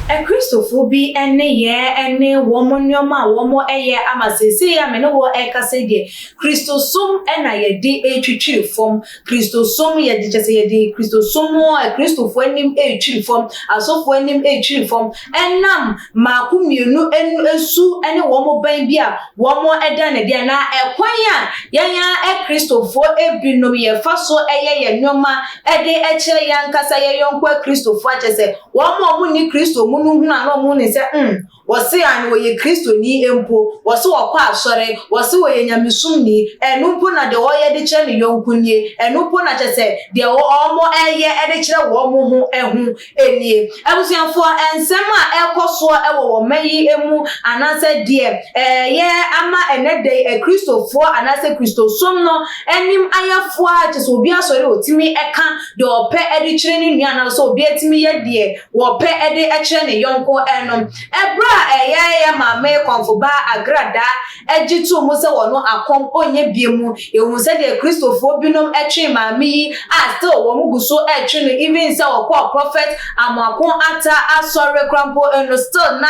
Akristofoɔ bi nneyɛɛ ne wɔn nneɛma a wɔyɛ ama seesei a me ne wo rekasa yi deɛ, Kristosom na yɛde retwitwiri fam. Kristosom yɛ de kyɛ sɛ yɛde Kristosom mu a Kristofo anim retwiri fam, asɔfo anim retwiri fam, ɛnam mmaako mmienu anu su ne wɔn bɛn bi a wɔda no adi anaa ɛkwan a yɛn ara Kristofo binom yɛfa so yɛ yɛn nneɛma de kyerɛ yɛn ankasa yɛn yɔnko Kristofo a kyerɛ sɛ wɔn a wɔnni Kristo mu no hunu a na wɔhu no sɛ mm Wɔse aane wɔyɛ Kristoni mpo, wɔse wɔkɔ asɔre, wɔse wɔyɛ nyamesomni, ɛno mpo na deɛ ɔyɛ de kyerɛ ne yɔnko nie, ɛno mpo na kyerɛ sɛ deɛ wɔyɛ de kyerɛ wɔn ho ho nie. Abusuafoɔ, nsɛm a ɛrekɔ soɔ wɔ wɔn mma yi mu anaasɛ deɛ ɛreyɛ ama ɛnnɛ da yi Akristofoɔ anaasɛ Kristosom no anim ayɛ foaa, kyerɛ sɛ obi asɔre a ɔtumi ka deɛ ɔpɛ de kyerɛ ne nua anaasɛ obi atumi yɛ deɛ wɔpɛ de kyerɛ ne yɔnko nom. Bere a Ɛyɛɛyɛ Maame Kɔmfobaa Agradaa gye too mu sɛ wɔno akɔm ɔnyɛ bio mu, yɛhu sɛdeɛ Kristofoɔ binom twee maame yi a still wɔn gu so retwe no even sɛ ɔkɔɔ Prophet Amoako Atta Asɔre koraa mpo no still na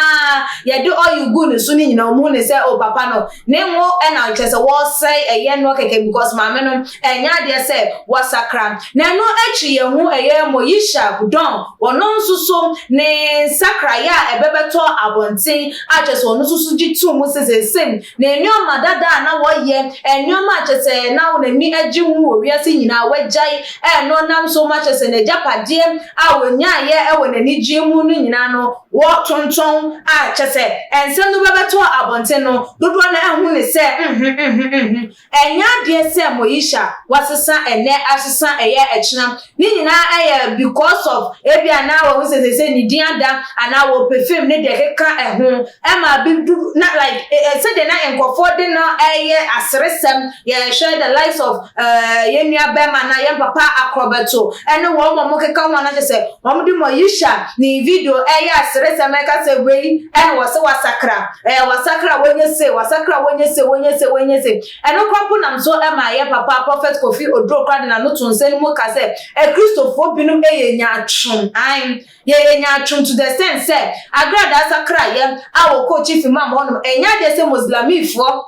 yɛde oil guu ne so no nyinaa wɔhu no sɛ oh papa no ne ngo na kyerɛ sɛ wɔresɛe ɛyɛ noɔ kɛkɛ because maame no Ɛnyɛ adeɛ sɛ wɔasakra. Na ɛno akyi yɛ ho ɛyɛ Moyisha Budong, ɔno nso so ne nsakraeɛ a ɛbɛbɛtɔ abɔnten a kyerɛ sɛ ɔno nso so gye to mu sɛ seesei ne nnoɔma dada a na wɔyɛ, nnoɔma a kyerɛ sɛ na wɔn ani gye ho wɔ wiase nyinaa, wɔagyae ɛno nam nso ma kyerɛ sɛ n'agyapadeɛ a ɔnyaeɛ wɔ n'anigyeɛ mu no nyinaa no wɔtontɔn a kyerɛ sɛ nsɛm no bɛbɛtɔ abɔnten no dodoɔ no ara hu no sɛ, Mh-mh-mh-mh-mh. Ɛnyɛ adeɛ sɛ Moesha wasesa ɛnɛ asesa ɛyɛ ɛkyena ne nyinaa ɛyɛ because of ebia na wahu sɛ sɛsɛ ne din ada anaa wɔpɛ fame ne deɛ ɛkeka ɛho ɛma bi du na like eh, sɛdeɛ na nkorɔfoɔ de no ɛyɛ aseresɛm yɛhwɛ the likes of eh, yɛn nua bɛrima na yɛn papa akorɔbɛto ɛne wɔn wɔn keka ho anakyɛ sɛ wɔn de Moesha ne video ɛyɛ aseresɛm ɛka sɛ wei ɛna wɔsɛ wasakra Eh, wasakra wonye se, wasakra wonye se, wonye se, wonye se. Ɛno kora mpo nam so ma yɛ papa Prɔfɛt Kofi Oduro kora de n'ano to nsa no mu ka sɛ Akristofoɔ binom yɛ nyaatwom. Ae, yɛyɛ nyaatwom to the extent sɛ agradaa sakraeɛ a wɔkɔɔ Chief Imam hɔnom, ɛnyɛ adeɛ sɛ Muslimifoɔ,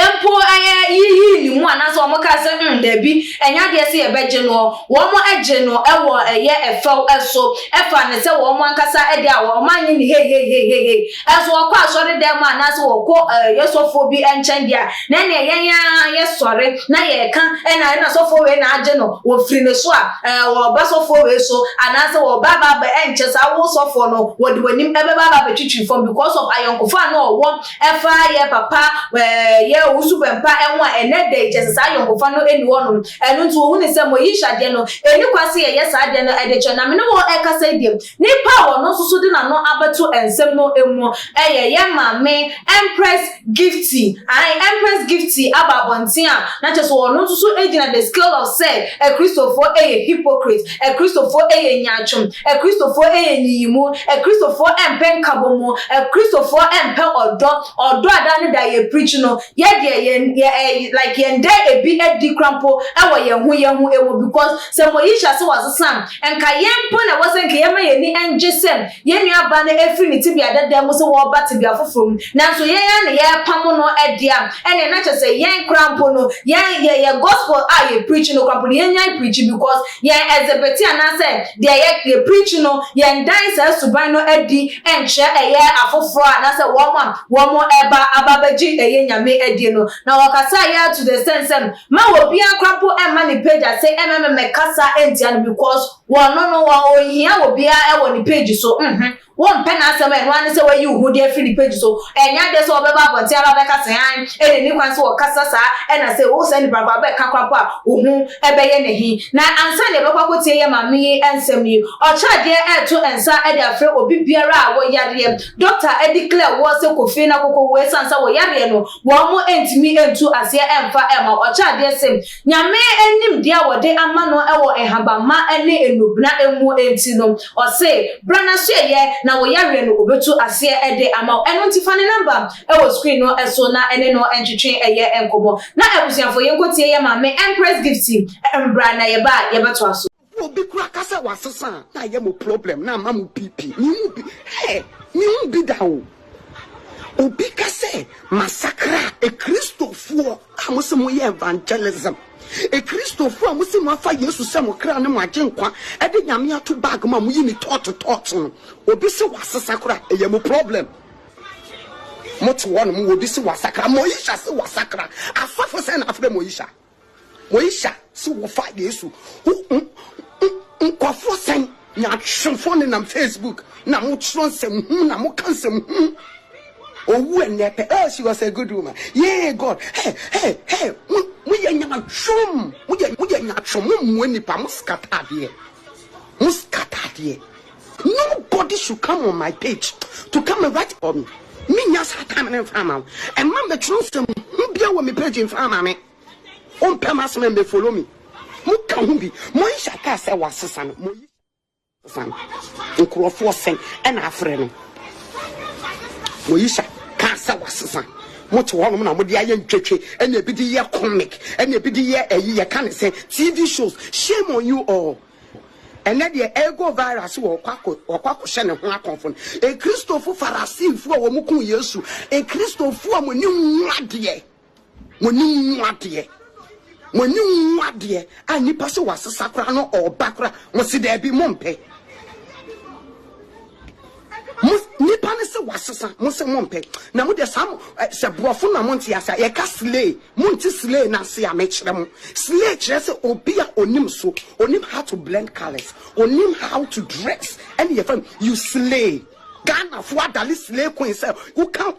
mpo yɛ yiyii ne mu anaasɛ wɔn kaa sɛ mm dabi ɛnyɛ adeɛ sɛ yɛbɛgye noɔ wɔn gye no wɔ ɛyɛ ɛfɛw so ɛfa ne sɛ wɔn ankasa ɛde a wɔn anye ne heiheiheiheihei ɛnso wɔkɔ asɔre dɛm a anaasɛ wɔkɔ ɛyɛ sɔfoɔ bi ɛnkyɛn deɛ a na ɛneɛ yɛn ara yɛ sɔre na yɛ ɛka ɛna ɛna sɔfoɔ wei na agye no wɔ firi ne so a ɛɛ wɔ ba sɔfoɔ wei so anaasɛ wɔ ba ba ba ɛnkyɛ saa wɔ sɔfoɔ no wɔde wɔnim ɛbɛba ba bɛtwitwi fam because of ayɔnkofa na ɔwɔ Ɛfa yɛ papa yɛ wo suban pa ho a, ɛnnɛ da yi kyerɛ sɛ saa ayɔnkofa no nni hɔnom. Ɛno nti wɔhunuu sɛ Moyish adeɛ no, ɛnni kwan sɛ yɛyɛ saa adeɛ no de kyerɛ. Na me ne wo rekasa yi deɛ, nipa a ɔno nso so de n'ano abɛto nsɛm no mu yɛ yɛn maame Empress Gifty. Ae, Empress Gifty aba abɔnten a, na kyerɛ sɛ ɔno nso so gyina the scale of sɛ Akristofoɔ yɛ hypocrite. Akristofoɔ yɛ nyaatwom. Akristofoɔ yɛ nyiyimu. Akristofoɔ mpɛ nkabɔmu. Akristofoɔ mpɛ ɔdɔ. Ɔdɔ a da ne da yɛ preach no, yɛ deɛ yɛn yɛ ɛɛ like yɛn da ebi adi kora mpo wɔ yɛn ho yɛn ho mu because sɛ Moyihyia sɛ wasesa a, nka yɛn mpo na ɛwɔ sɛ nka yɛma yɛn ani ngye sɛ Yɛn nua ba no afiri ne tebea dada mu sɛ ɔreba tebea foforɔ mu, nanso yɛn ara na yɛrepamo no de a, ɛnneɛ na kyerɛ sɛ yɛn koraa mpo no, yɛn, yɛn, yɛn Gospel a yɛ preach no koraa mpo no, yɛnnyae preach because yɛn exhibit anaasɛ deɛ yɛ, yɛ preach no, yɛndan saa suban no adi nkyerɛ ɛyɛ afoforɔ a anaasɛ wɔn a wɔreba aba abɛgye ɛyɛ Nyame adie no. Na wɔkasaa yɛn ara to the extent sɛ mma obiara koraa mpo mma ne pagya se ɛmmɛmɛmɛkasa ntia no because Wɔ no no wɔ onhia wɔ biaa wɔ ne page so mhmm wo mpɛ n'asɛm a ɛno ara ne sɛ wayi wo ho de afiri ne page so ɛnyɛ adeɛ sɛ ɔbɛba abɔnten aba abɛka sɛ hann ɛna ɛni kwan sɛ ɔkasa saa ɛna sɛ wo saa nipa no koraa bɛka koraa mpo a wo ho bɛyɛ no he na ansa na yɛbɛkɔ akɔtie yɛ maame yi nsɛm yi ɔkyerɛ adeɛ ɛɛto nsa de afrɛ obi biara a wɔ yareɛ doctor declare woɔ sɛ kɔ fie na kɔkɔ wu ɛsiane sɛ wo yareɛ no wɔn ntumi ntu aseɛ ɛmfa ɛmma wo ɔkyerɛ adeɛ se Nyame nimdeɛ a wɔde ama no wɔ nhabamma ne nnubena mu nti no, ɔse, Bra n'asoɛeɛ na wo yareɛ no ɔbɛtu aseɛ de ama wo. Ɛno nti fa ne number wɔ screen no so na ɛne no ntwetwe yɛ nkɔmmɔ. Na abusuafoɔ yɛnkɔtie yɛn maame Empress Gifty mbra na yɛba a yɛbɛtoa so. Wo obi kura ka sɛ wasesa a na ayɛ mo problem na ama mo PP me hu bi hɛ me hu bi da o obi ka sɛ masakra ekristofoɔ a mo se mo yɛ evangelism ekristofoɔ a mo se mo afa Yesu sɛ mo kra ne mo agye nkwa ɛde nyame ato bag mo a mo yi ne tɔɔto tɔɔto no obi se wasesa kora ɛyɛ mo problem mo te hɔ no mo obi se wasakra Moisha se wasakra asɔfo sɛ na afrɛ Moisha. Wɔhyɛ se wɔfa Yesu ho nkurɔfoɔ sɛn? Nyaatwomfoɔ no nam Facebook na mo twerɛ nsɛm hunu na mo ka nsɛm hunu. Owu ɛnɛ pɛ, oh she was a good woman, yee God, hey hey hey, mo mo yɛ nyaatwom, mo yɛ mo yɛ nyaatwom, mo mmua nipa, mo scatter adeɛ, mo scatter adeɛ. Nobody should come on my page to come and write about me. Me nya saa time ne nfa ama wo. Ɛma mbɛtwerɛ nsɛm ho bia wɔ me page nfa ama me. Wompɛ m'asɛm a mbɛ follow me. Mo ka ho bi. Mo yi hyɛ kaa sɛ wasesa no. Mo yi san. Nkurɔfoɔ sɛn ɛna afrɛ no. Mo yi hyɛ kaa sɛ wasesa. Mo te hɔnom na mo de ayɛ ntwetwe ɛna ebi de yɛ comic ɛna ebi de yɛ ɛyi yɛ ka ne sɛ TV shows. Shame on you all. Ɛnnɛ deɛ ɛrekɔ viral sɛ wɔkɔ akɔ wɔkɔ akɔhyɛ ne ho akɔmfo no. Ekristofo Farasiifo a wɔn kum Yesu, Ekristofo a mo ani nwu adeɛ, mo ani nwu adeɛ, mo ani nwu adeɛ a nipa sɛ wasesa koraa no ɔba koraa, mo se daabi mo mpɛ. Mo nipa no se wasesa mo se mo mpɛ na mo deɛ saa mo eh, sɛ borɔfo na mo nte ase a yɛka slay mo nte slay na ase a mekyerɛ mo slay kyerɛ sɛ obi a onim so onim how to blend colors onim how to dress ɛne yɛfa you slay Ghana fo adale slay queen sɛ woka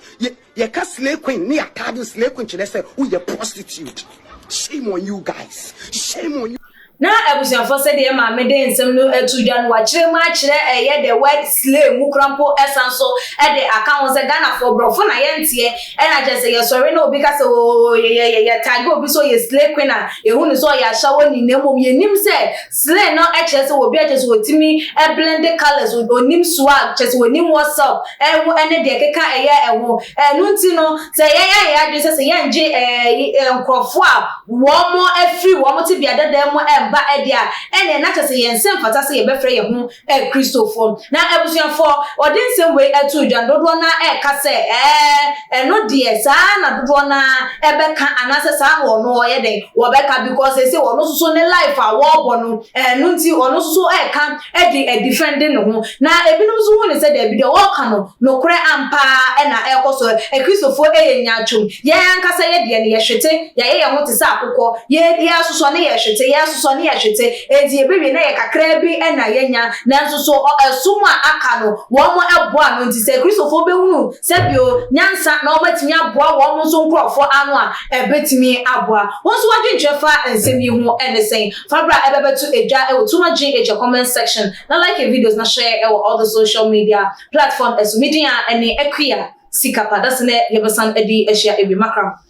Yɛka slay queen ne atade slay queen kyerɛ sɛ woyɛ prostitute. Shame on you guys. Shame on you. Na abusuafo sɛdeɛ maame de nsɛm no ato dwa no wakyerɛ mu akyerɛ ɛyɛ the word slay mu kora mpo ɛsan so ɛde aka ho sɛ Ghanafoɔ borɔfo na yɛnteɛ ɛna kyerɛ sɛ yɛsɔre na obi ka sɛ oo yɛ yɛ yɛ tag obi sɛ ɔyɛ slay queen a yɛhu no sɛ ɔyɛ ahyɛwɔ ni na mmom yɛnim sɛ Slay no kyerɛ sɛ obi a kyerɛ sɛ otumi blende colours, onim swag, kyerɛ sɛ onim what's up ɛho ne deɛ ɛkeka ɛyɛ ɛho. Ɛno nti no sɛ yɛn ayɛ yɛn adwene sɛ sɛ yɛngye ɛɛ nkorɔfoɔ a wɔn afiri wɔn tebea dada mu mma ɛdeɛ a ɛneɛ na kyerɛ sɛ yɛn nsa mfata sɛ yɛbɛfrɛ yɛn ho ɛ Kristofo. Na abusuafo a wɔde nsɛm wei too dwa no, dodoɔ no ara reka sɛ, Ɛɛ, ɛno deɛ, saa ara na dodoɔ no ara bɛka, anaasɛ saa na wɔn wɔyɛ dɛn? Wɔbɛka, because seesei wɔn nso so ne life a wɔrebɔ no, ɛno nti wɔn nso so reka de adifɛnde ne ho. Na ebinom nso hu no sɛ daabi, deɛ wɔreka no, nokorɛ ampa ara na ɛrekɔ so. Ɛ Kristofo, yɛ nyaatwom. Yɛn ankasa yɛn deɛ no, yɛhwete, yɛayɛ yɛn ho te sɛ akokɔ. Yɛn biara sosɔ ne yɛhwete, yɛsosɔ ne yɛhwete. Enti ebewie na yɛn kakraa bi na yɛanya, nanso so ɔsom a aka no, wɔboa ano? Enti sɛ Kristofo behunu sɛnea nyansa na wɔatumi aboa wɔn nso nkurɔfo ano a, ebetumi aboa. Wo nso w'adwenkyerɛ fa nsɛm yi ho ne sɛn? Fa bere a ɛbɛbɛto adwa wɔ Tuma Gye Agya comment section na like videos na share wɔ all the social media platform so. Me din ara ne Akua Sikapa. Dasene yɛbɛsan de ahyia awiemakramo.